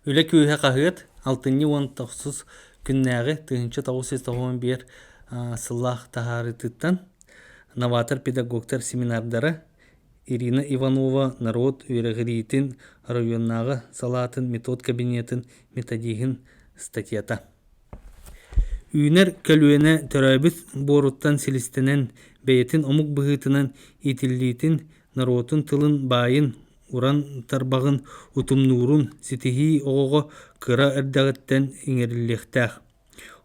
Үлэ күүһэ хаһыат алтынньы уонна охсус күннээҕи тыһыынча тоҕус сүүс тоҕуон биэр сыллаах таһаарыытыттан новатор-педагогтар семинардара Ирина Иванова норуот үөрэҕириитин оройуоннааҕы салаатын метод кабинетын методиһын статьята Үүнэр көлүөнэ төрөөбүт буоруттан силистэнэн бэйэтин омук быһыытынан иитиллиитин норуотун тылын баайын, уран тарбаҕын, утумнуурун ситиһии оҕоҕо кыра эрдэҕиттэн иҥэриллиэхтээх.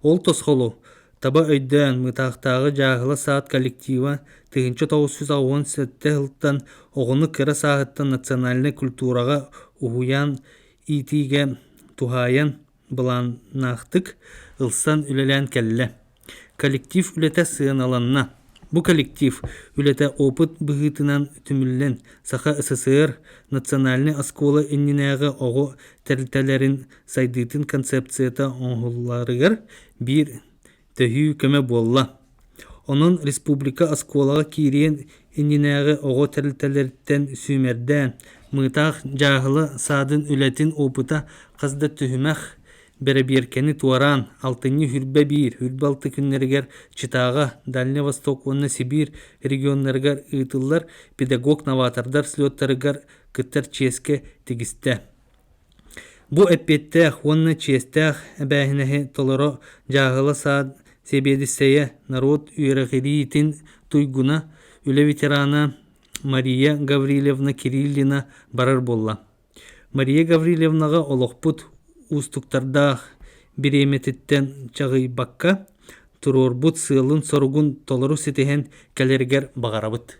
Ол тосхолу таба өйдөөн, Мытаахтааҕы дьааһыла саад коллектива тыһыынча тоҕус сүүс уон сэттэ сылтан оҕону кыра сааһыттан национальнай культураҕа уһуйаан иитиигэ туһаайан, Былааннаахтык ылсан үлэлээн кэллэ. Коллектив үлэтэ сыаналанна. Бу коллектив үлэтэ опыт быһыытынан түмүллэн, Саха СССР национальнай оскуола иннинээҕи оҕо тэрилтэлэрин сайдыытын концепцията оҥоһулларыгар биир төһүү көмө буолла. Онон республика оскуолаҕа киириэн иннинээҕи оҕо тэрилтэлэриттэн сүүмэрдээн, мыытаах дьааһыла саадын үлэтин опыта хас да түһүмэх, бэрэбиэркэни туораан, алтынньы үрбэ биир, үрбэ алты күннэригэр Читаҕа, Дальний Восток уонна Сибиир регионнарыгар ыытыллар педагог-новатордар слеттарыгар кыттар чиэскэ тигистэ. Бу эппиэттээх уонна чиэстээх эбээһинэһи толоро дьааһыла саад сэбиэдиссэйэ норуот үөрэҕириитин туйгуна, үлэ ветерана Мария Гаврильевна Кириллина барар буолла. Мария Гаврильевнаҕа олохпут уустуктардаах бириэмэтиттэн чаҕыйбакка, туруорбут сыалын-соругун толору ситиһэн кэлэригэр баҕарабыт